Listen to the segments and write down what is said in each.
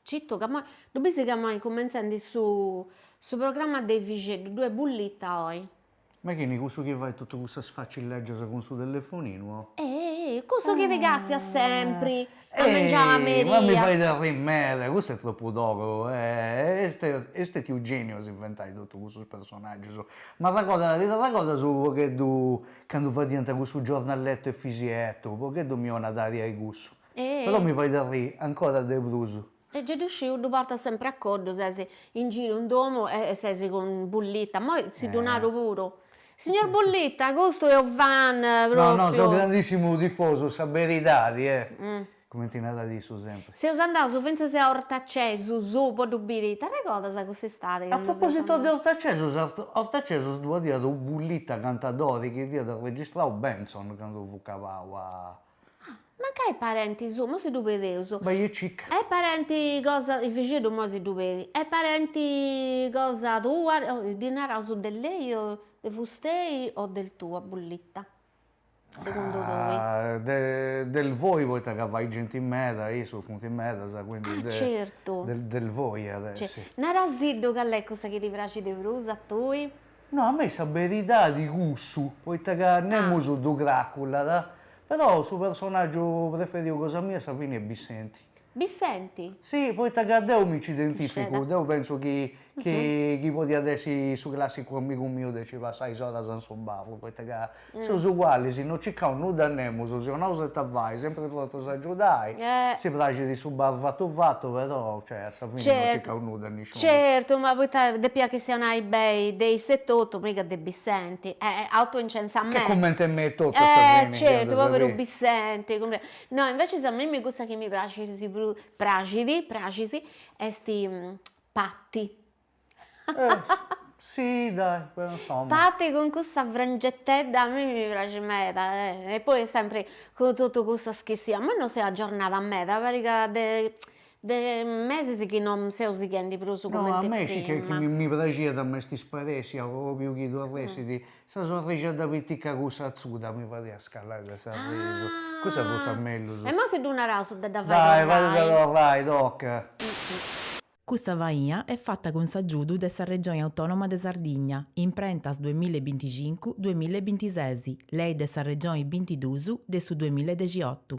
Cittu ca moi, ddu bis ca moi cumenzendi su su programma de Efixeddu, ddu est Bullitta oi. Ma chini cussu chi fait tottu cussas facilleggias cun su telefoninu o. Ehi, cussu chi ti castias sempri a mengiau a merì. Ma mi fait arrii meda, cussu est troppu togu, est stetiu geniu a si inventai tottu cussus personaggius, m'arregodat, t'arregodas unu pogheddu Candu fadiant cussu giornalettu 'e Fisietto, u' pogheddu mi 'onat aria 'e cussu. Però mi fait arri' ancora de prus. E gei ddu sciu, ddu portas sempre a coddu, ses in giru in domu e ses cun Bullitta, moi si ddu naru puru. Signor Bullitta, custu è u' fan propriu. No, no, seu grandissimu tifosu, sa beridadi è Cumenti narat issu sempri. Seus andaus fintzas a Ortacesus po ddu biri, t'arregodas cussa istadi candu seus andaus. A propositu de Ortacesus, a Ortacesus ddu adiat u' Bullita cantadori chi dd'iat registrau Bentzon candu fut cabau a. Ah, mancai parenti suu, mo si ddu pedeus. Bai e cica. Est parenti cosa, Efixeddu mo si ddu pedit, est parenti cosa tua, ddi naraus de lei o de fustei o del tu a Bullita. segundu tui? Del voi poita ca fait genti meda e issus funt medas quindi del voi iat essi. Narasiddu cali est cussa chi ti praxit de prus a tui? No a mei sa beridadi cussu poita ca nemus ddu craculat però su personaggiu preferiu cosa mia a sa fini est Bissenti. Bissenti! Si, poita ca deu mi nci identificu, deu pentzu chi chi podiat essi su classicu amigu miu de nci passai is oras in su bar, poita ca seus ugualis, no circaus nudda nemus, si 'onaus ita fai, sempri prontus a agiudai, si praxit su bar fatu fatu, però cioè a sa fini no circaus nudda a nisciunus. Certu, ma poita depiat chistionai beni de issu etotu, mica de Bissenti, autoincensamenti. Ch'est cumenti e mei etotu a sa fini. Certu, poveru Bissenti. No, inveces a mimmi cussa chi mi praxis prus, praxit, praxis, est Patti. Si, dai, però insomma. Patti cun cussa frangettedda a mimmi mi praxit meda, e poi est sempri cun totu cussus chi siat, ma no s'est agiornada meda, parit ca de De mesis chi no seu sighendi prus cumenti prima. No, a mei scis chi mi praxiat ma est isparèssia pròpriu chi torressit sa sorrixedda pitica cussa atzuda, mi fadiat scallai de s'arrisu, cussa fut sa mellus. E imoi si ddu naraus de dda fai torrai. Dai, fai dda torrai, toca. Custa faina est fata cun s'agiudu de sa Regioni Autònoma de Sardigna, Imprentas duemilla e binticincu, duemilla e bintises, Lei de sa Regioni bintiduus de su duemilla e dexiotu.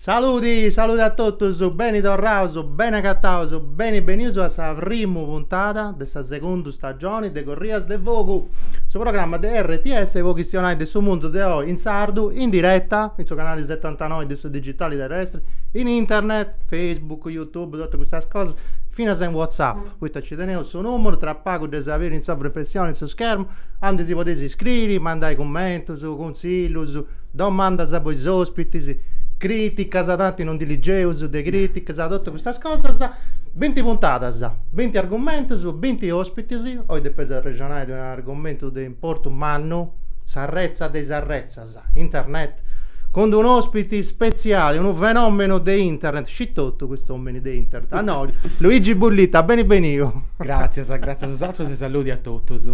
Saludi, saludi a totus, beni torraus, beni agataus, beni benius a sa primu puntada de sa segundu Stagioni de corrias de fogu, su programma de RTS po chistionai de su mundu de oi in sardu, in diretta, in su canali setantanoi de su digitali terrestri, in internet, facebook, youtube, totu custas cosas, finas in whatsapp, poita nci teneus su numeru, tra pagu dd'eus a biri in s'ovra impressioni, in su schermu, aundi si podeis iscriri, mandai cummentus, Contzillus, domandas po is ospitis, criticas, tanti non ndi ligeus de criticas, totu custas cosas, binti puntadas, binti argumentus, binti ospitis, oi depeus arrexonai de u' argomentu de importu mannu, s'arretza de is arretzas, internet, cun d'unu ospiti spetziali, unu fenomenu de internet, scit totu cust'omini de internet, a nois, Luigi Bullitta, beni beniu. Gratzias, gratzias a usatrus e saludi a totus.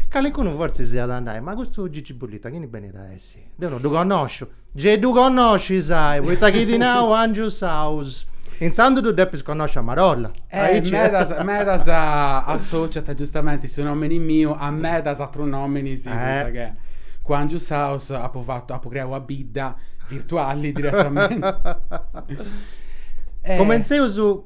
Calicunu fortzis iat a nai, ma custu Gigi Bullitta chini benit a essi? Deu no ddu connosciu. Gei ddu connoscis, sai, poita chi ti nau Angiu's House. Intzandus ddu depis connosci a marolla. Eh, medas, medas associant giustamenti su nomini miu a medas atrus nominis, poita che cun Angiu's House apu fatu, apu creau una bidda virtuali diretamenti. Cumentzeus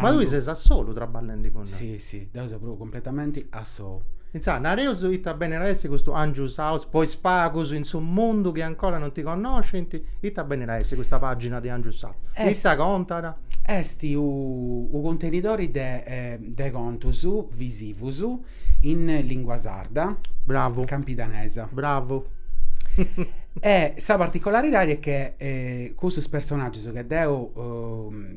Ma tui ses a solu traballendi cun... Sì, sì, deu seu propriu completamenti a sou. Intzà, nareus ita benit a essi custu Angiu's House po is pagus in su mundu chi ancora non ti connoscint, ita benit a essi custa pàgina de Angiu's House? Ita contat? Est unu cuntenidori de contus visivus in lìngua sarda, bravu, campidanesa, bravu, e sa particolaridadi est chi custus personàgius chi deu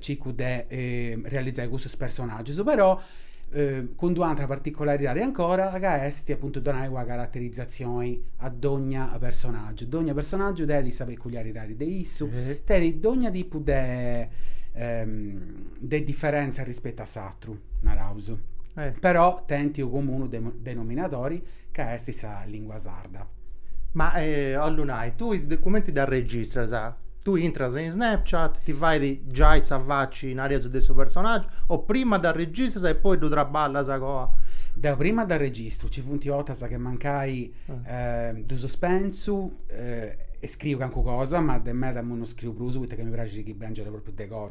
circu de realizai custus personaggius, però cun d'u' atra particolaridadi ancora ca est apuntu donai una caraterizatzioni a dogna personaggiu, dogna personaggiu tenit sa peculiaridadi de issu, tenit dogna tipu de de differenza rispettu a s'atru Tru, naraus. Eh. Però tenint unu comunu denominadori ca est sa lìngua sarda. Ma eh, 'ollu nai, tui cumenti dd'arregistras? Tui intras in Snapchat, ti fait giai sa faci, nareus, de su personàgiu, o prima dd'arregistras e poi ddu traballas co. Deu prima dd'arregistru, nci funt 'ortas chi mancai ddus pensu e scriu calincuna cosa, ma de meda imui non scriu prus, poita ca mi praxit chi bèngiat pròpriu de cosa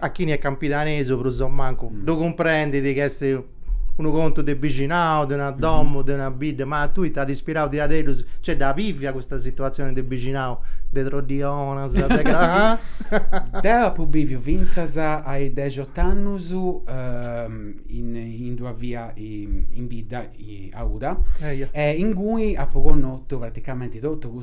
a chini est campidanesu prus o mancu mm. ddu cumprendit chi est unu contu de bixinau, de una mhm. domu, de una bidda, ma a tui t'at ispirau diaderus, cioè dda bivia custa situatzioni de bixinau, de troddionas, de cra... Deu apu biviu fintzas a is dexot'annus ehm, in, in d'una via in bidda, a Uda, e ingui apu connotu praticamenti totu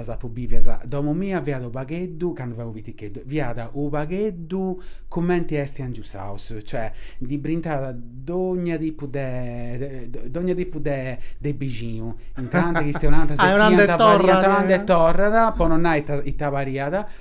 As apu bivias. Domu mia fiat u' pagheddu, candu fia u' piticheddu, fiat u' pagheddu cumenti esti Angius House, cioè ndi brintat dogna tipu de dogna tipu de de bixinu, intrànt, chistionànt, setziant, pariant, andat e torrat, po no nai ita pariat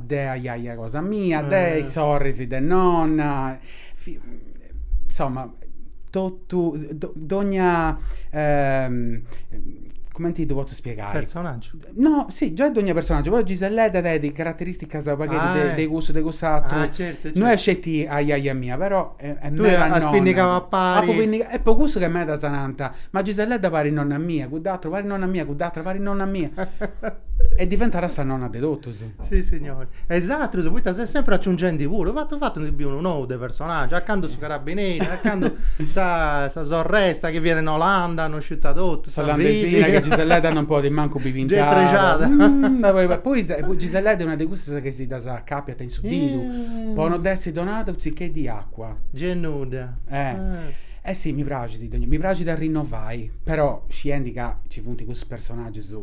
de ajaja cosa mia, de is sorris de nonna, insomma, totu, dogna, cumenti ddu potzu spiegai? Personaggiu. No, si, giai dogna personaggiu, però Giselledda tenit carateristicas u' pagheddu de cussu, de cuss'atru. Ah, certu, certu. No est sceti ajaja mia, però est meda nonna. Tui as pinnigau a pari. Apu pinnigau, e po cussu ca medas nant, ma Giselledda parit nonna mia, cudd'atru parit nonna mia, cudd'atra parit nonna mia. E diventat sa nonna de totus. Si signori. E is atrus, poita ses sempri aciungendi puru, fatu fatu ndi biu unu nou de personaggiu, a candu su carabineri, a candu sa sa sorresta chi fiat in Olanda, no sciu ita totu, s'olandesina chi Giselledda non podit mancu bi pintai. Dd'est prexada. Poi Giselledda est una de cussas chi si ddas acapiant in su didu po no dd'essi donada u' tzicheddu 'e acua. Gennudda. Eh. Eh si, mi praxit, mi praxit a rinnovai, però sciendi ca nci funt custus personaggius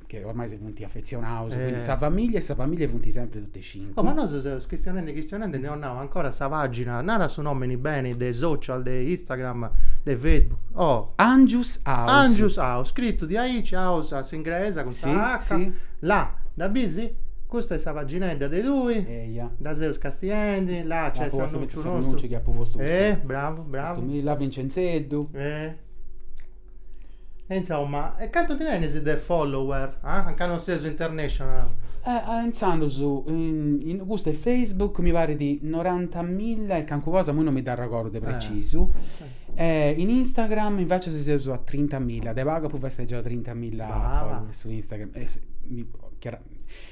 che ormai si funt afetzionaus, eh. quindi sa familia e sa familia funt sempri totu e cincu. Oh, ma nosu seus chistionendi chistionendi e no eus nau ancora sa pagina, nara su nomini beni de social, de Instagram, de Facebook, oh. Angius House. Angius House, scritu diaici, house a s'ingresa cun sa H. Sì, sì. Là, dda bisi? Custa est sa paginedda de tui. Eia. Dda seus castiendi, là nc'est s'annunciu nostru. Apu postu finzas s'annunci chi apu postu. Eh, bravu, bravu. Custu mi, là Vincenzeddu. Eh. E insomma, e cantu ndi tenis de follower? Ah? A ca non seus international? Eh, ah, intzandus, in custu 'e Facebook mi parit norantamilla e cancu cosa, imui non mi dd'arregordu de precisu, e in Instagram invecias seus a trintamilla, de pagu apu festeggiau trintamilla followers su Instagram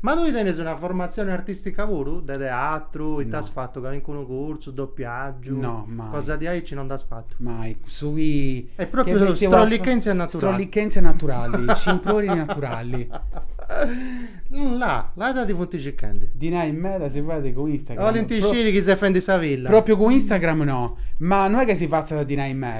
Ma tui tenes una formatzione artìstica puru, de teatru, ite as fatu, calincunu cursu, dopiàgiu? No, mai. Cosa diaici no nd'as fatu? Mai, su chi. Est pròpriu strollichèntzia naturali. Strollichèntzia naturali, scimprori naturali. La, la ita ti funt circhendi? Dinai meda si fait cun Instagram. 'olint sciri chi ses fendi sa villa. Pròpriu cun Instagram no, ma no est chi si fatzat dinai meda.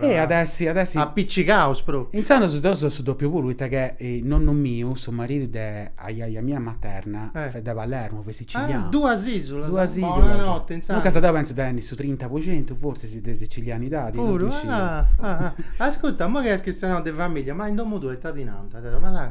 Eh, at a essi, at a essi. Apiccicaus propriu. Intzandus deu seu dòpiu puru, poita ca nonnu miu, su maridu de ajaja mia materna, fiat de Palermu, fiat sicilianu. Ah, duas isulas. Duas isulas. Bonanotte, intzandus. Duncas deu pentzu de tenni su trinta po centu, forsis, de sicilianidadi. Puru? Ah, ah, ah. Ascurta, imoi ca eus chistionau de familia, ma in domu tua ita ti nant, Deda? Ma.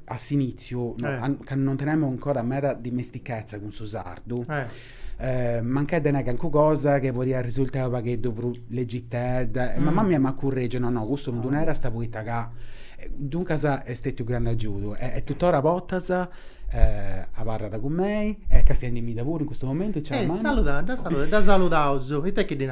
a s'inìtziu, candu non tenemu ancora meda dimestichesa cun su sardu, mancai tenit calincuna cosa chi podiat arrisultai unu pagheddu prus legitedda, e mama mia m'at curregiu, no no, custu non ddu naras poita ca, duncas est stetiu u' grandu agiudu e tuttora a bortas abarrat cun mei e est castiendimidda puru in custu momentu, ciao mama.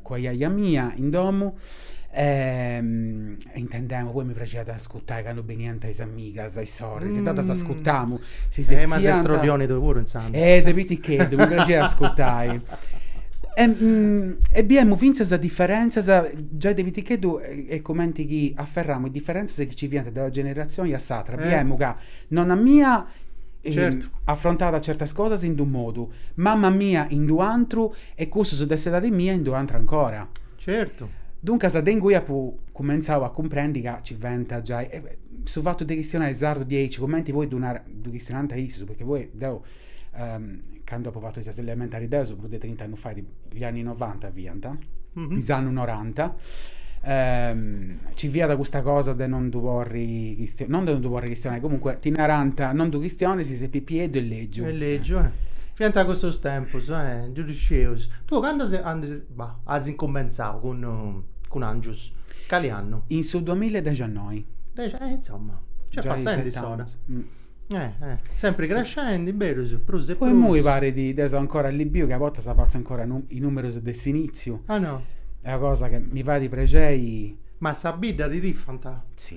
cun ajaja mia in domu e intendemu, poi mi praxiat a ascutai candu beniant is amigas, is sorris, e totus ascutamu, si setziant. Ma ses troddioni tui puru intzandus. Eh de piticheddu mi praxiat a ascutai. E biemu fintzas diferentzas, giai de piticheddu est cumenti chi aferramu is diferentzas chi nci fiant de una generatzioni a s'atra, biemu ca nonna mia afrontat certas cosas in d'unu modu, mama mia in d'unu atru E cussus de s'edadi mia in d'unu atru ancora. Certu. Duncas de ingui apu cumentzau a cumprendi ca ci fent giai e su fatu de chistionai sardu diaici, cumenti poi ddu narat, ddu chistionant issus, poita poi deu candu apu fatu is elementaris deu seu prus de trinta annus fait, gli anni novanta fiant, is annus noranta, ci fiat custa cosa de non ddu porri, non de non ddu porri chistionai, comunque ti narant, non ddu chistionis, ses pipieddu e lègiu. E lègiu, eh. Fiant custos tempus, eh, ddu scieus. Tui candu as incumentzau cun cun Angius? Cali annu? In su duamilla e dexannoi. Dexi eh intzomma, nc'est passendi s'ora. Eh eh, sempri crescendi, berus, prus e prus. Poi immoi parit, deu seu ancora allibiu chi a bortas fatzu ancora is numerus de s'initziu. Ah no. Est una cosa chi mi fait prexeri. Ma sa bidda ti tifant? Si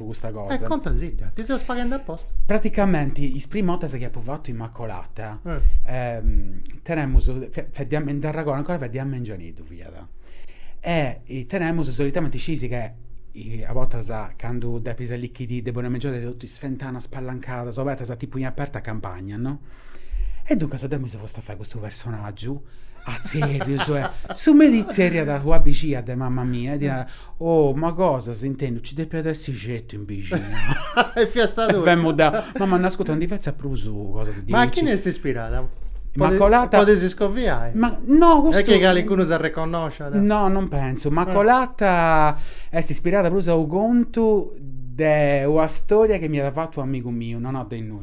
po custa cosa. E contasidda, ti seus paghende apposta. Praticamenti is primu ortas chi apu fatu Immacolata, eh. Ehm, tenemus, fiat de a, nd'arragordu ancora fiat de a mengianeddu fiat. E tenemus solitamenti scisi che a bortas candu depis allichiri de bonu mengianu tenis totus is fentanas spalancadas obertas tipu in aperta campagna, no? E duncas deu mi seu posta a fai custu personaggiu a tzerrius, su merì itzerriat una bixina de mama mia e diat, oh ma cosa as intendiu nci depiat essi certu in bixinau. E fiast tui. Femu deu, mama no ascurta no ndi fetzas prus cosas diaici. Ma a chini est ispirada? Immacolata. Podis iscoviai. Ma no, custu. Est chi calicunu s'arreconnosciat. No, non pensu, Immacolata est ispirada prus a unu contu de una storia chi m'iat fatu u' amigu miu, nonna de innoi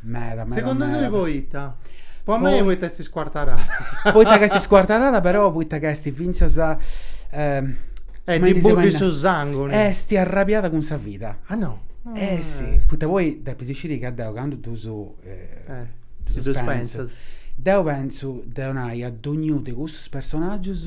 Meda, meda, Segundu meda. tui poita? Po a mei poita est iscuartarada. Poita ch'est iscuartarada però poita ch'est fintzas E ddi buddit su sangu. Est arrabiada cun sa vida. Ah no. Eh si, poita poi depis sciri ca deu candu ddus ddus pentzu, deu pentzu de 'onai a dogniunu de custus personaggius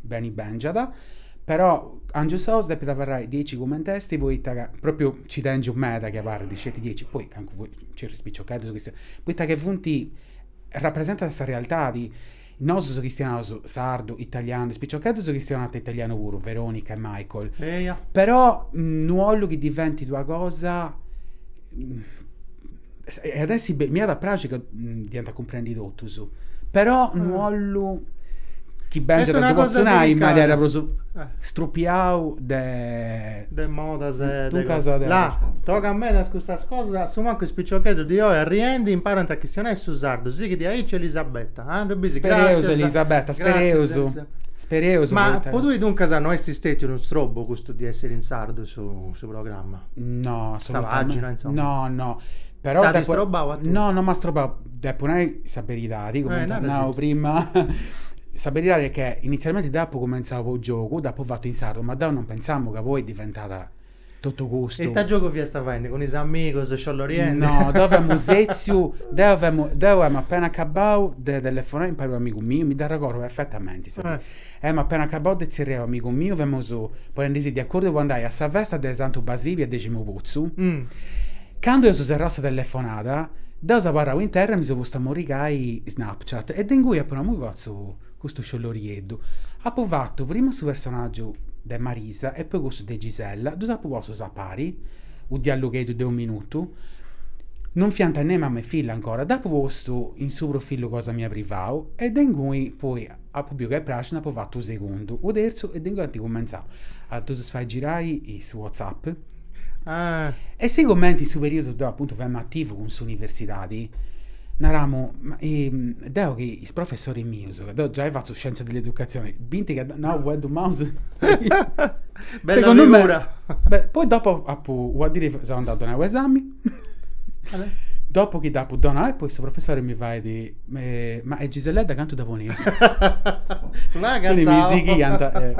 Beni bèngiat. Però, Angius House, depit abarrai diaici cument'est, poita ca, pròpriu, nci tèngiu meda chi abarrit sceti diaici, poi, cancu fui, nci funt is piciocheddus chistionant, poita ca funt, rapresentant sa realtadi, nosus chistionaus sardu, italianu, is piciocheddus chistionant italianu puru, Veronica e Michael, però, no 'ollu chi diventit una cosa E at essi m'iat a praxi ca dd'iant a cumprendi totus, però no ah. ollu chi bèngiat a potzu nai, manera prus eh. strupiau de... De modas e... Duncas de... La, tocat medas custas cosas, a su mancu is piciocheddus di oi arriendi imparant a chistionai su sardu, sighit aici Elisabetta, ah, ddu bisi, grazias. Elisabetta, spereus. Spereus. Ma po tui duncas no est stètiu unu strobu custu di essiri in sardu su programma. No, assolutamente. Pagina, insomma. No, no. Però T'ha depo... distrobau a tui? No, non mi ha strobau. Depu nai sa beridadi, come eh, nau prima. sa beridadi è che inizialmente d'apu comenzau po giogu, d'apu fattu in sardu, ma deu non pensamu ca poi diventata totu custu. E ita giogu fiasta faendi cun is amigus, scioloriendi? No, deu femu setziu, deu femu, deu emu appena acabau de telefonai impari a u amigu miu, mi dd'arregordu perfettamenti. Eh. Emu appena acabau de tzerriai u amigu miu, femus ponendisi de accordu po andai a sa festa de Santu Basili a Deximuputzu, candu eus serrau sa telefonada, deu seu abarrau in terra e mi seu postu a morigai Snapchat e de ingui apu nau mi fatzu custu sciolorieddu. Apu fatu primu su personaggiu de Marisa e poi cussu de Gisella, ddus apu postus a pari, u diallugheddu de u minutu, non fiant nei mama e filla ancora, dd'apu postu in su profillu cosa mia privau e de ingui poi Apu biu ca e praxina apu fatu u segundu, u terzu e de ingui anti cumentzau a ddus fai girai su whatsapp. E sigumenti in su periudu deu apuntu femu ativu cun s'universidadi, naramu, deu chi is professoris mius, ca deu giai fatzu scienza dell'educazione, binti ca nau fueddus maus, segundu mei, poi dopu apu, una dì seu andau a donai u esami Dopo chi dd'apu donau, e poi su professori mi fait, eh, ma e Giselledda candu dda ponis? Ma Quindi mi cassau. sighiant, eh,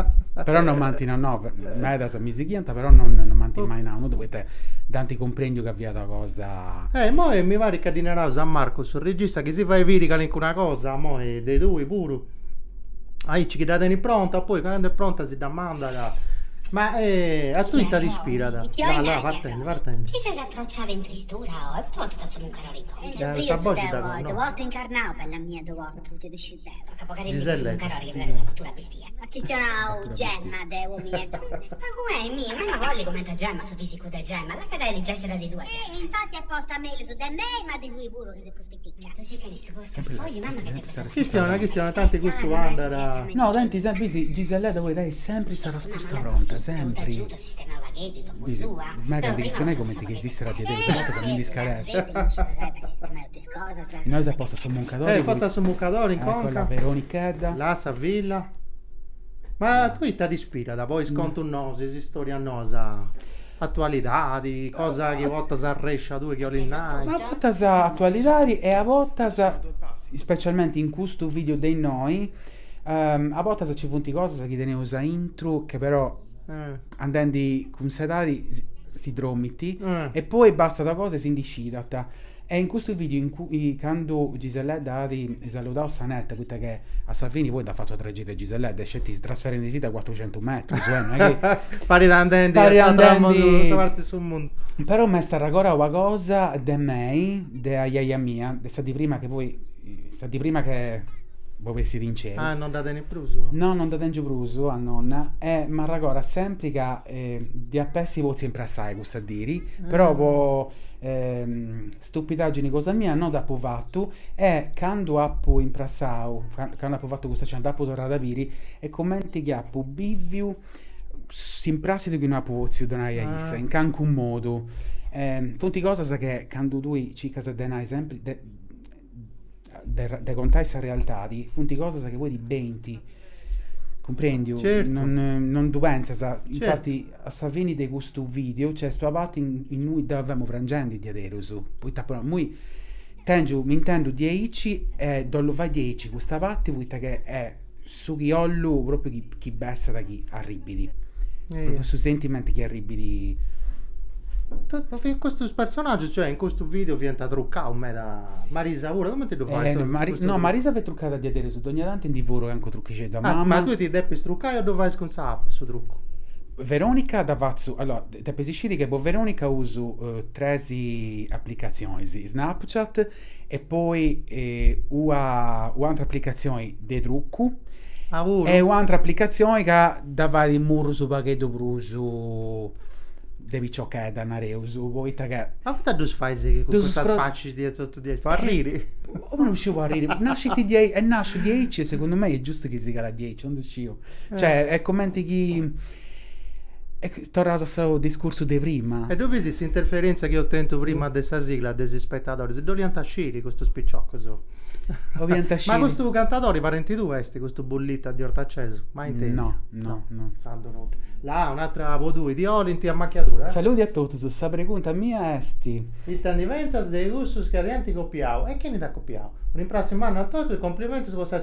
però non m'ant, no, no, medas mi sighiant, però non, non m'ant mai nau nudda, poita dd'ant cumprendiu ca fiat una cosa... Eh, imoi mi parit ca ddi naraus a Marco, su regista, chi si fait biri calincuna cosa, imoi, de tui puru, aici chi dda tenit pronta, poi candu est pronta si dda mandat, ma, eh, a tui ita t'ispirat? Là, là, vattè. Divertenti. Ti ses atrociada in tristura oh e poita non ti sa solu incarare i contu. Nci fia su deu oh, ddu portu incarnau, bella mia ddu portu ddu fia desciu deu. Toca po Carinu chi su incarare chi faghet sa fattura bestia. At chistionau Gemma de Uomini e Donne. Pagu beni miu, m'emu a bolli comente a Gemma su fisicu de Gemma, lacada e li gessi a dda li duai Gemma. E infatti est posta mellus de mei ma de tui puru. Chistionat, chistionat, tanti custu andat. No, tenit sempri, Giselledda poi tenit sempri sa resposta pronta, sempri. Bisi, mai ca ndi chistionai cumenti chi esisterat diaderus, a bortas mi ndi scareat. Inoi s'est posta su muncadori puru. Est fata su muncadori in conca. Ecco la Veronichedda. La sa filla. Ma a tui ita t'inspirat po is contus nosu, is istorias nosa? Atualidadi, cosa chi portas arrescia tui chi 'olis nai? A botas atualidadi e a botas, ispecialmenti in custu video de innoi, a botas ci funt cosas chi teneus aintru che però andendi cun s'edadi si dromint e poi bastat cosa e si ndi scidant. E in custu video in cui candu Giselledda at saludau sa neta, poita che a sa fini poi dd'at fatu a tragedia Giselledda, est sceti trasferendisi de cuatrucentus metrus, eh, non est chi. Parit andendi a s'atru mundu, a sa parti de su mundu. Però m'est arregorau una cosa de mei, de ajaja mia, de sa dì prima chi poi, sa dì prima che bo bessit in ceu. Ah, non dda tenit prus? No, non dda tengiu prus a nonna e m'arregorat sempri ca dd'iap'essi potziu imprassai sa diri, però po stupidagini cosa mia no dd'apu fatu e candu apu imprassau, candu apu fatu custa scena dd'apu torrada a biri est cumenti chi apu biviu s'imprassidu chi no apu potziu donai a issa in calincunu modu. Funt cosas chi candu tui circas de nai sempri de, de contai sa realtadi, funt cosas chi poi ti benint, cumprendiu? Certu. Non, non ddu pentzas, Certu. infati a sa fini de custu vídeo nc'est una parti in- in ui deu femu prangendi diaderus, poita apu nau, imui tengiu, m'intendu diaici e ddu 'ollu fai diaici custa parti, poita ca est su chi 'ollu propriu chi, chi bessat chi arribit. Propriu su sentimentu chi arribit. Fiant custus personaggius, cioè in custu video fiant truccaus meda Marisa puru, comente ddu fai? Eh, su- Mari- custu no, truccu? Marisa fiat truccada diaderus, dogna tanti ndi furu cancu truchixeddu a mamma. Ah, ma tui ti depis truccai o ddu fais cun sa app su truccu? Veronica dda fatzu, allora, depis sciri chi po Veronica usu eh, tres applicatzionis, Snapchat E poi ua un'atra aplicatzioni de trucu e un'atra aplicatzioni ca dda fait murrus unu pagheddu prus de piciochedda, nareus, poita ca. Ma poita ddus fais cun custas facis diae totu diae, po arriri? Non sciu po arriri, nascit diaici, est nasciu diaici e segundu mei est giustu chi sigat diaici, non ddu sciu. Cioè, est cumenti chi Torraus a su discursu de prima. E ddu bis s'interferentza chi eus tentu prima de sa sigla de is ispetadoris? Dd'oliant a sciri custus piciocus. Ma custu cantadori parenti tuu est custu Bullita di Ortacesu? Mai intendiu. No, no, no. Tando nudda. Là un'atra po tui, ti olint a macchiadura? Saludi a totus, sa pregunta mia est. Ita ndi pentzas de cussus chi t'ant copiau e chini nd'at copiau? Un'imprassiu mannu a totus e complimentus po sa.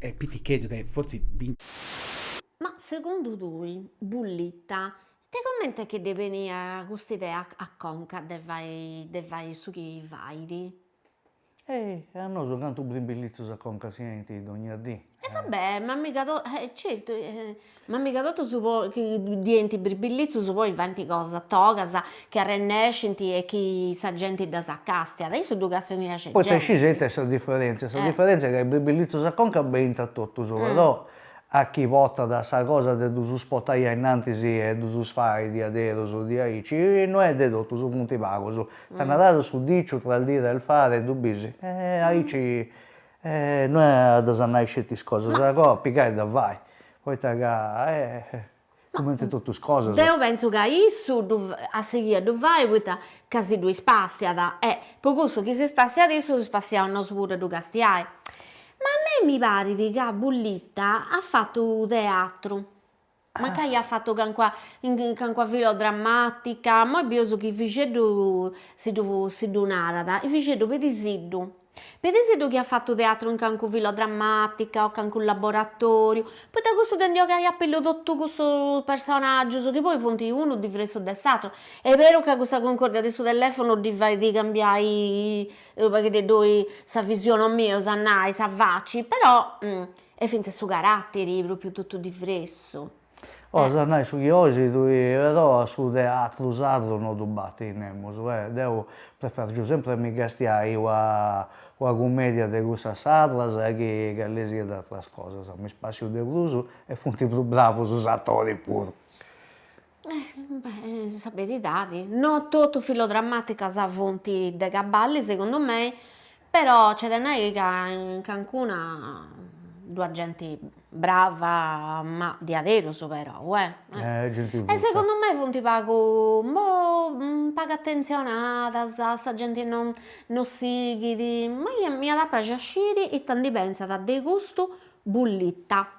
E piticheddu de fortzis. Ma segundu tui, Bullita, de comente est chi ddi beniat cust'idea a conca de de fai su chi fait? E a nosu cantu brimbillizzus a conca si 'enint dogna dì. E va bè, ma miga totus, certu. Ma miga totus poi chi ddi 'enint birbillizus poi faint cosas togas chi arrennescinti e chi sa genti ddas castiat issu ddu castoniat sceti. Poita iscis ita est sa diferentzia sa diferentzia ca is birbillizus a conca beint a totus però a chi potat sa cosa de ddus potai ainnantis e ddus fai diaderus diaici no est de totus funt pagus ita narat su diciu tra su dire e su fare ddu bisi e aici E no est a ddas nai sceti is cosas agoa, pigai a ddas fai, poita ca eh, cumenti totu is cosas. Deu pentzu ca issu ddu at a sighì a ddu fai poita ca si ddu ispassiat, e po cussu chi s'ispassiat issu s'ispassiaus nosu puru a ddu castiai. Ma a mei mi parit ca Bullita at fatu teatru. Mancai at fatu cancuna cancuna filodramàtica, imoi bieus chi Fixeddu si ddu si ddu narat, eh Fixeddu pedisiddu, pedisiddu chi at fatu teatru in cancuna filodramàtica o cancunu laboratòriu, poita cussu de ndi 'ogai a pillu totu cussus personàgius chi poi funt unu diversu de s'àteru, est beru ca cussa cuncòrdia de su telèfonu ddi fait cambiai u' pagheddeddu sa visioni o mellus a nai, sa faci, però E fintzas su caratteri propriu tottu difressu. As a nai su chi oisi tui, però a su teatru sardu no ddu battit nemus, e deu prefergiu sempre mi castiai ua ua cumedia de cussas sardas chi calisisiat atras cosas, mi spassiu de prusu e funti pru bravus is attoris puru. Beh sa beridadi, no totu filodrammaticas funt de cabali segundu mei, però nc'est de nai ca in cancuna ddu at genti brava, ma diaderus però eh, e segundu mei funt pagu boh pagu attentzionadas, sa genti non non sighit, ma ia m'iat a praxi a sciri ita ndi pentzat de custu Bullita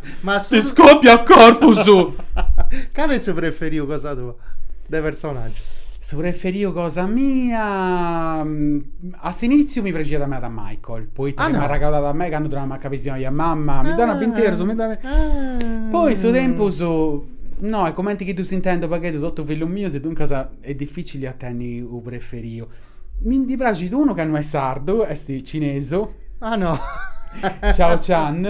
Ma su... Ti scoppia a corpo su... Cale è su preferiu cosa tua? De personaggiu. Su preferiu cosa mia... Mm, a s'initziu mi praxiat meda Michael, poita ah, no. m'arragalat a mei candu torraus a Macca besioni a mamma, ah, mi dana binterus, mi dana... Ah. Poi su tempus... No, e comenti chi ddus intendu pagheddu totu fillus mius e duncas est dificili a tenni u preferiu. Mi ndi praxit unu ca no est sardu, est cinesu. Ah no! Shao Chan,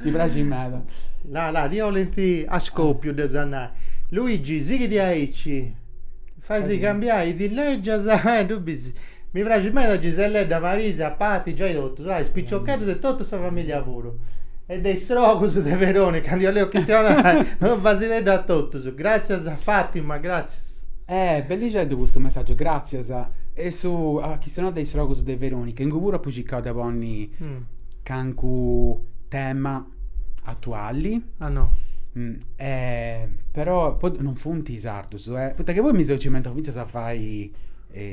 mi praxit meda. La la, ti 'olint a scòpiu dda sa nai. Luigi, sighi diaici. Faisi cambiai is dillegias e ddu bisi. Mi praxit meda Giselledda, Marisa, Pati, giai totus. Ah, is piciocheddus e totu sa familia puru. E de is istrocus de Veroni, candu 'iu leu chistionai, no b'asi peddu a totus. Gràtzias a Fàtima, gràtzias. Eh, bellixeddu custu messàgiu, gràtzias. Eus a chistionai de is istrocus de Verònica, ingui puru apu circau de ponni cancu tema atuali. Ah no. Eh, però po non funt sardus, eh. Poita chi poi mi seu cimentau fintzas a fai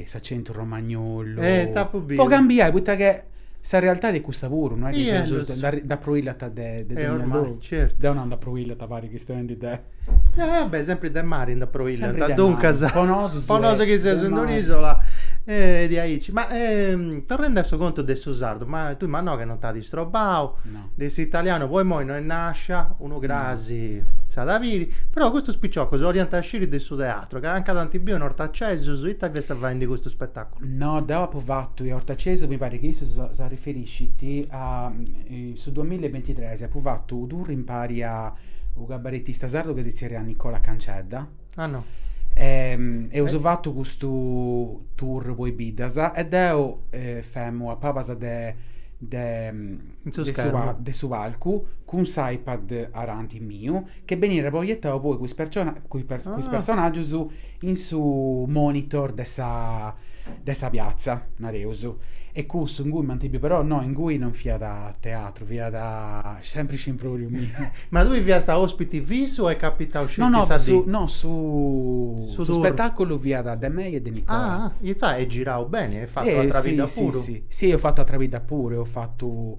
s'acentu romagnolu. Eh, t'apu biu. Po cambiai, poita chi sa realtadi est cussa puru, no est chi seus, nd'apruillant de de deu nau. Certu. Deu nau nd'apruillant pari chistionendi de Ah beh, sempri de mari nd'apruillat, Sempri de mari, duncas po nosu po nosu chi seus in un'isola e diaici. Ma torrendi a su contu de su sardu, ma tui ma no che non t'at istrobau, no, de s'italianu po imoi no si sciit, unu cras s'at a biri, però custus piciocus 'oliant sciri de su teatru, ca nanca t'ant biu in Ortacesus, ita fiast faendi custu spettaculu? No, deu apu fatu in Ortacesus, mi parit chi issu s'arriferiscit a In su duamilla e bintitres apu fatu unu tour impari a u cabaretista sardu ca si zerriat Nicola Cancedda. Ah no. E eus fatu custu tour po i biddas e deu femu a pabas de de su palcu cun s' iPad aranti miu che benit proietau poi cun is personaggius in su monitor de sa de sa piazza, nareus, e cussu ingui m'ant biu però no ingui non fiat teatru fiat sempri s'impròviu miu. Ma tui fiast a ospiti fissu o est capitau sceti sa dì? No no no su su spetaculu fiat de mei e de Nicola. Ah intzà eis girau beni, eis fatu atra bidda puru. Si si si eus fatu atra bidda puru eus fatu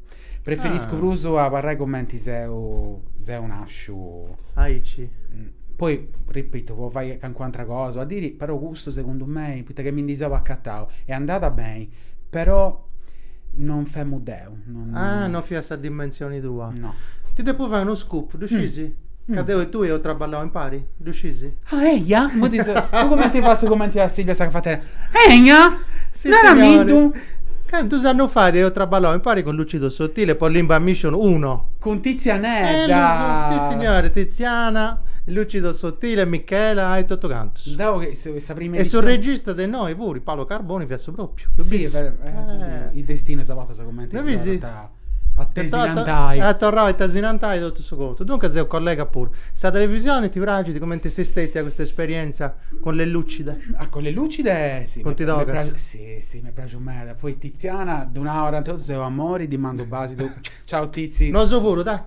Preferiscu prus a abarrai cumenti seu seu nàsciu. Aici. Poi, ripitu, po fai calincuna atra cosa, at a diri, però custu segundu mei, poita chi mi ndi seu acatau, est andada beni, però non femu deu. Ah, non fiat sa dimensioni tua. No. Ti depu fai unu scoop, ddu scisi? Ca deu e tui eus traballau impari, ddu scisi? Ah, eja? Imui ti seu... Tu cumenti fatzu cumenti a Silvia sa cafetera? Eja? Si, Naramiddu? Cantus annus fait eus traballau impari cun Lucido Sottile po Limba Mission uno. Cun Tizianedda! Si, signori, Tiziana, Lucido Sottile, Michela e totu cantus. Deu che seu sa prima edizioni... E su regista de innoi puru, Paolo Carboni, fiat su propriu. Si, is destinus a bortas cumenti si torrant a... A tesinantai. A torrai a tesinantai totu su contu. Duncas seu collega puru. Sa televisioni ti praxit? Cumenti est stetia custa esperienza cun Le Lucide? Ah, cun Le Lucide si. Funt togas? Si, si, m'est praxiu meda. Poi Tiziana, ddu nau oranta 'e totu, seu amori, ddi mandu u' basidu. Ciau Tizi. Nosu puru, dai.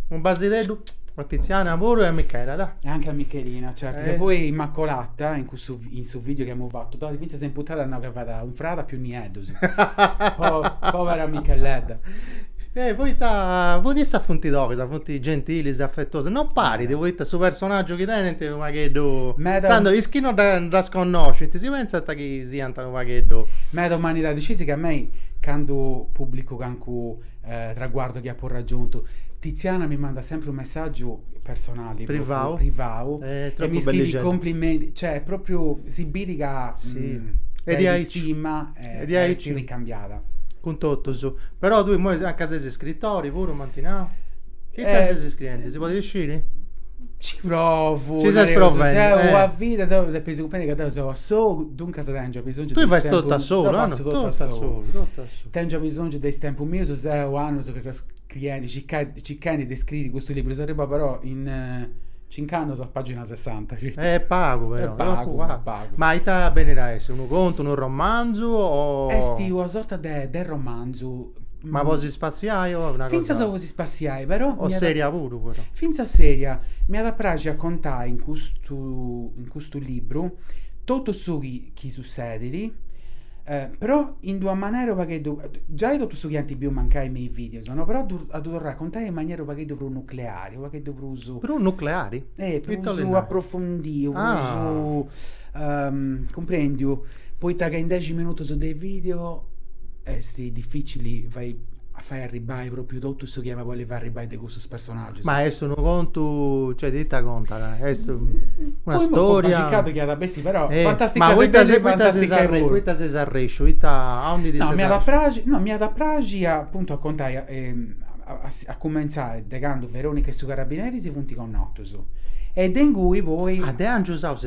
U' basideddu a Tiziana puru e a Michela, dai. E anche a Michelina, certu. E poi Immacolata in su, in su video chi amus fatu, dònnia, fintzas in puntada no che fada un frada prus nieddus. po, povera Micheledda. Eh, poita, poita issas funt togas, funt gentilis, afetuosas, non parit, poita su personaggiu chi tenint unu pagheddu, Meda- insandus is chi no dda- ddas connoscint si pentzant chi siant unu pagheddu. Meda umanidadi, scisi chi a mei candu publicu cancu traguardu chi apu raggiuntu. Tiziana mi mandat sempri unu messàgiu personali, privau, privau e mi scriit cumplimentis, cioè est pròpriu, si bit ca s'istima est ricambiada. Cun totus, però tui imoi a ca ses iscritori puru, m'ant nau? Ita ses iscriendi, si podit sciri? Ci provu, nareus, seu una vida, depis cumprendi ca deu seu a solu Duncas tèngio bisòngiu de is tempus... Tui fais totu a solu? Deu fatzu totu a solu. Tèngio bisòngiu de is tempus mius, seu annus chi seu scriendi, circhendi de scriri custu liburu, seu arribau però in cinc'annus a pàgina sessanta, sceti. Est pagu però. Est pagu, pagu. Ma ita benit a essi? Unu contu, unu romanzu o... Est una sorta de romanzu. Ma po si spassiai o est una cosa... Fintzas po si spassiai, però... O seria puru però. Fintzas seria. M'iat a praxi a contai in custu, in custu liburu Totu su chi chi sussedit, però in d'una manera unu pagheddu, giai totu su chi ant biu mancai me is videos no, però a ddu torrai a contai in manera unu pagheddu prus nucleari, unu pagheddu prus, Prus nucleari? eh, Ita 'olit prus nai? aprofundiu, Ah. prus cumprendiu, poita ca in dexi minutus de video est dificili fai a fai arribbai propriu totu su chi emu a bolli fai arribbai de custus personaggius. Ma est unu contu, cioè de ita contat? Est una Poema storia? compasicadu chi at a bessi, però, Eh, fantastica ma poita seddende se- e poita ses fantastica arre- puru. poita ses arrèsciu? Ita, aundi ti No, ses m'iat a arrèsciu? praxi, no, m'iat a praxi a, appuntu, a contai a a si a cumenzai de candu Veronica e su carabineri si funt connotus e de ingui poi Ah, de Angius Aus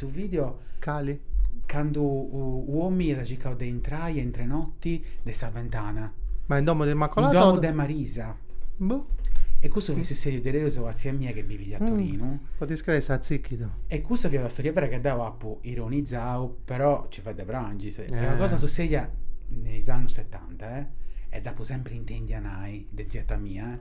custu video. Cali? Candu un'omini iat circau de intrai a intrenoti de sa ventana. Ma in domu de Immacolada? In domu de Marisa. Boh. E custu fiat sussediu diaderus a tzia mia che bivit a mm. Torinu. Podis crei s'atzìchidu. E custa fiat una storia vera chi deu apu ironizau, però ci fiat de prangi. Est una eh. cosa sussedia in is annus setanta, eh? E dd'apu sempri intèndia nai. De zieta mia, eh?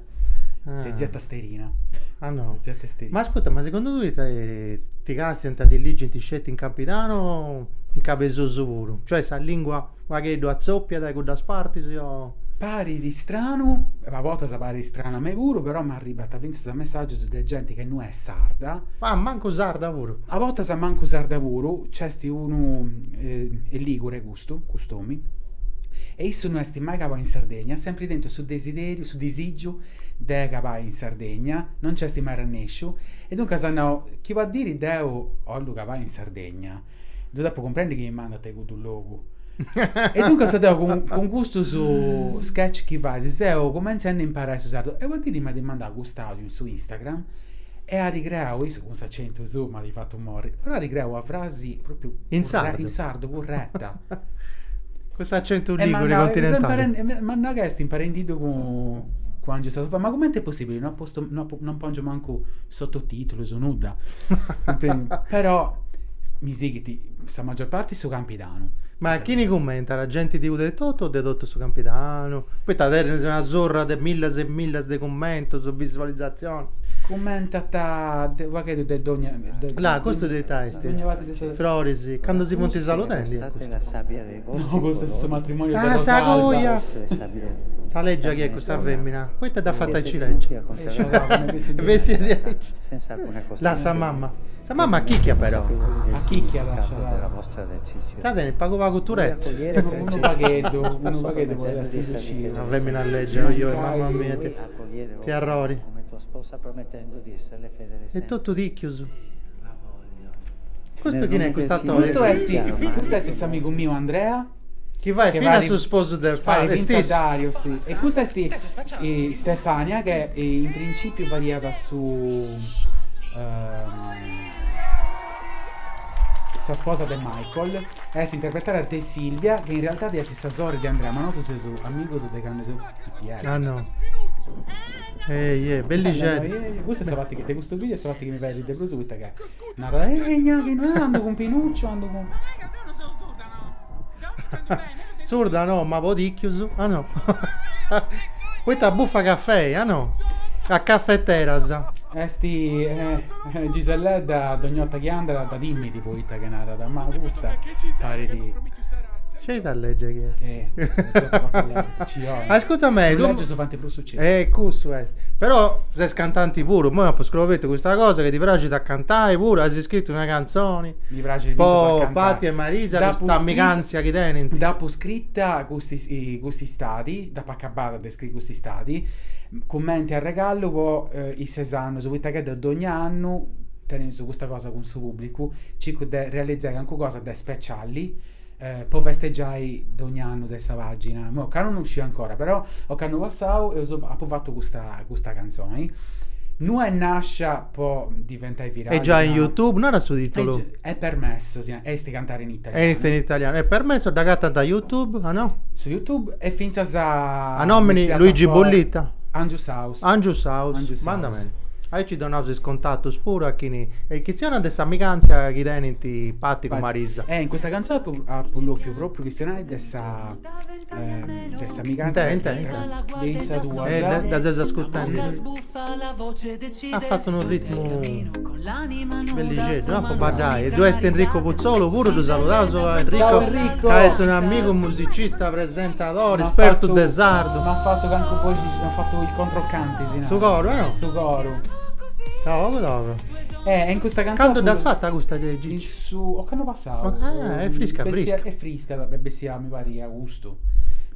Ah. De zieta Sterina. Ah no. De zieta Sterina. Ma ascurta, ma segundu tui eh, ti castiant e ti ligint sceti in Campidanu o in Cabesusu puru? Cioè sa lingua unu pagheddu atzòpiat de cuddas partis o... Parit istranu, a bortas parit istranu a mei puru, però m'arribant fintzas messàgius de genti chi no est sarda, Ah, mancu sarda puru. a bortas mancu sarda puru, nc'est unu, eh, est ligure custu, cust'omi, e issu no est mai cabau in Sardegna, sempri tentu su desideriu, su disìgiu de cabai in Sardegna, no nci est mai arrannèsciu, e duncas at nau, chi una diri deu 'ollu cabai in Sardegna, ddu depu cumprendi chi mi mandant a cuddu logu. E duncas deu cun, cun custus sketch chi fais seu cumentzendi a imparai su sardu, e una diri m'at mandau cust'audiu in su Instagram e at creau, e issu cun s'acentu suu m'at fatu morri. Però at creau una frasi propriu in curre- sardo. in sardu curretta. Cun s'acentu E ligure manna- continentale. e sempre- Ma nanca est imparendiddu cun cun Angiu Sasopà, ma comente est possibili? No at postu no at po- non pongiu mancu sottotitulus, nudda. Però mi sighit sa magior parti su campi Campidanu. Ma a chini cummentat? Genti de Uda etotu o de totu su Campidanu? Poita tenis una surra de millas e millas de cummentus, visualizatzionis. Cummentat de unu pagheddu de dogna. Là, custu de ita est? Dogna parti de sa. Froris, candu si funt saludendi est custu. No, custu est su matrimoniu de Rosalba. Ah, sa coja! Là legia chi est custa femina? Poita dd'as fata aici legia? Bessiat diaici. Là sa mama. Sa mama acchicchiat però. Acchicchiat, sciadada. Sa tenit pagu pagu Tourette. Unu pagheddu, unu pagheddu podit essi sussiu. Una femina legia, ojoi, mamma mia, t'arrori. E totu ticchius. Custu chini est custu attori? Custu esti, custu esti s'amigu miu Andrea. Chi fait finas su sposu de Fali, est issu? Fait finzas Dario, si. E custa esti Stefania chi in principiu fadiat su Sa sposa de Michael est interpretada de Silvia, chi in realidadi est sa sorri de Andrea, ma nosu seus amigus de candu seus pipieddus. Ah no. Ehi, ehi, bellixeddu. Eh, Custa est sa parti chi, de custu video est sa parti chi mi fait arrì de prus poita ca narat ehi giai chi no andu cun Pinuccio andu cun Surda no, ma po tìcchius, a no. Poita bufa cafei, a no. A cafeteras. Est Giselledda dogn'orta chi andat dda timit poita chi narat, ma custa parit... Sceti a lègere chi est. Ascurta mei, tue... E cussu est. Però ses cantanti puru, moi apo scobertu custa cosa che ti praxit a cantai puru, as scritu una canzoni. Mi praxit finzas a po Patti e Marisa dd'apu custa scritta- amiganzia chi tenint. Dd'apu scritta custis- cust'istadi, dd'apu acabada de scriri cust'istadi, cumenti arregallu po is ses annus, poita ca deu dogna annu teneus custa cosa cun su pubblicu, circu de realizai calincuna cosa de speciali eh, po festegiai dogn'annu de sa pagina, mo ca non uscì ancora, però ocannu passau eu so, apu fattu custa, custa canzoni. Nu è nascia po diventai virali. E già in YouTube, non era su titolo. È, è permesso, si, est cantare in italiano. Est in italiano, è permesso, da gatta da YouTube, ah no? Su YouTube e finzas a... A nomini Luigi Bollitta. Angiu Sau. Angius House, andat beni. Aici donaus is contatus puru a chini e chistionat de s'amigantzia chi tenint Patti cun Marisa. E in custa cantzoni apu apu bofiu propriu chistionai de sa de s'amigantzia Inte, inte, inte. de issas duas. E dda seus ascurtendi. At fatu unu ritmu Bellixeddu, po baddai. E ddu est Enrico Puzzolu puru, ddu saludaus a Enrico. Ciao Enrico. Ca est un amigu musicista, presentadori, M'at espertu fatu- de sardu. M'at fatu cancu boxi, m'at fatu il controcanti, si narat. Su coru, no? Su coru. Togu togu. Eh, e in custa canzone Candu dd'as fata custa de In Gigi? su, ocannu passau. Ah, est frisca, Bessia- frisca. Est frisca, beh, bessia Mi parit agustu,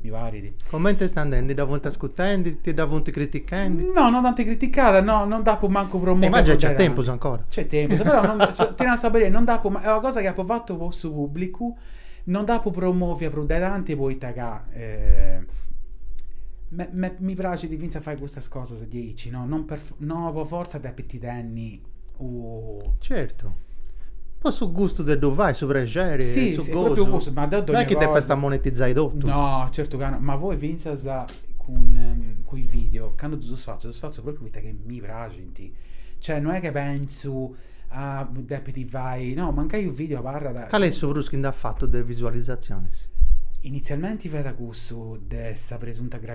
mi parit. Comente est andendi? Dda funt ascurtendi? Ti dda funt critichendi? No, non dd'ant criticada, no, non dd'apu mancu promoviu. Ma giai c'est tempus ancora. C'est tempus, però non, ti nau sa berida, non dd'apu, est una cosa chi apu fatu po su pubblicu, non dd'apu promovia prus de tanti poita ca mi praxit finzas a fai custas cosas diaici, no, non per, no po forza depit tenni Certu. Po su gustu de ddu fai, su prexeri, su gosu. Ma deu dogna cosa... Non est chi depest a monetizai totu. No, certu ca no, ma poi fintzas cun is videos, candu ddus fatzu, ddus fatzu propriu poita chi mi praxint. Cioè, no est chi pentzu, ah, depit fai... No, mancai u' video abarrat... Cali est su prus chi nd'at fatu de visualizatzionis? Initzialmenti fiat cussu de sa presunta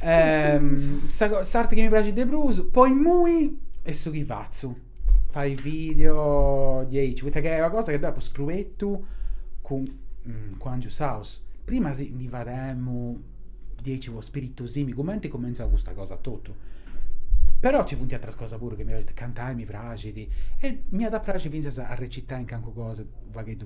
Ehm, sa co- s'arte chi mi praxit de prus, po immoi, est su chi fatzu. Fai video diaici, poita ca est una cosa chi deu apu scruetu cun cun Angius House. Prima si ndi fademu diaici po spiritosimi, cumenti cumentzau custa cosa etotu. Però ci funt ateras cosas puru chi mi praxint, cantai mi praxit e m'iat a praxiri finzas a recitai in calincuna cosa u' pagheddu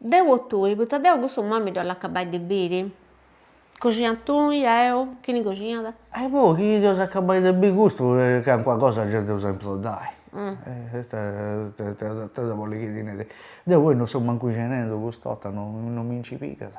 Deu o tui, poita deu custu mami dd'ollu acabai de biri. Coxinat tui, deu, chini coxinat? E poi chi dd'eus a acabai de biri custu, calincuna cosa gei dd'eus a improddai. Ita bolis chi ti neri. Deu poi non seu mancu coxinendi cust'orta, non mi nci pigat.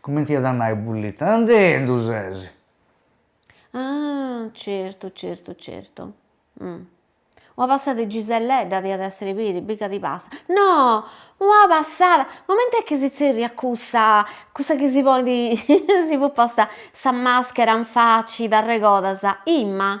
Cumenti iat a nai Bullita, Andendu ses! Ah, certu, certu, certu. Una passada 'e Giselledda diat essere peri, mica ti passat. No! Una passada! Comente est chi si tzerriat cussa, cussa chi si ponit, si podit ponni sa maschera in faci, t'arregodas immoi?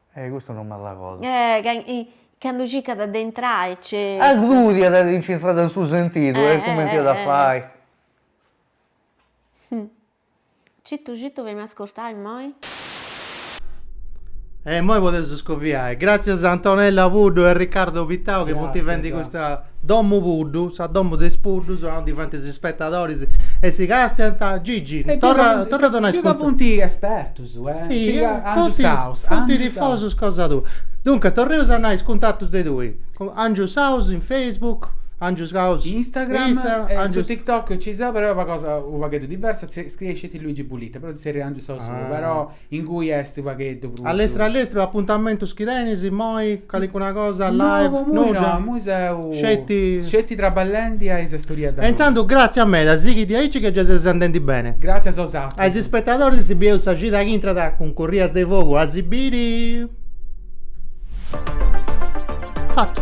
Eh custu non m'arregodu. Eh candu circat de intrai nci. Agudia chi nci intrada in su sentidu e cumenti iat a fai. Citu citu fai-mi ascurtai immoi. E immoi podeus scoviai. Gràtzias a Antonella Puddu e Riccardo Pittau chi funt fendi custa Domu Puddu, sa domu de is puddus, a undi faint is spetadoris e si castiant. Gigi, torra torra a donai is. Ca funt espertus. Si, funt tifosus cosa tua. Duncas, torreus a nai is cuntatus de tui. Angius Saus in Facebook, Angius Saus in Instagram, su TikTok nci seu però est una cosa u' pagheddu diversa, si scriescit Luigi Bullita, però si zerriat Angius Saus puru, però ingui est u' pagheddu prus. Allestru allestru, apuntamentus chi tenis immoi, calincuna cosa live, nudda? No, imui no, imui seu Sceti traballendi a is storias noas. E intzandus gràtzias meda, sighidi aici chi gei seus andendi beni. Gràtzias a bosatrus. A is ispetadoris si bieus sa cida chi intrat cun Corrias de Fogu a si biri. Fatu.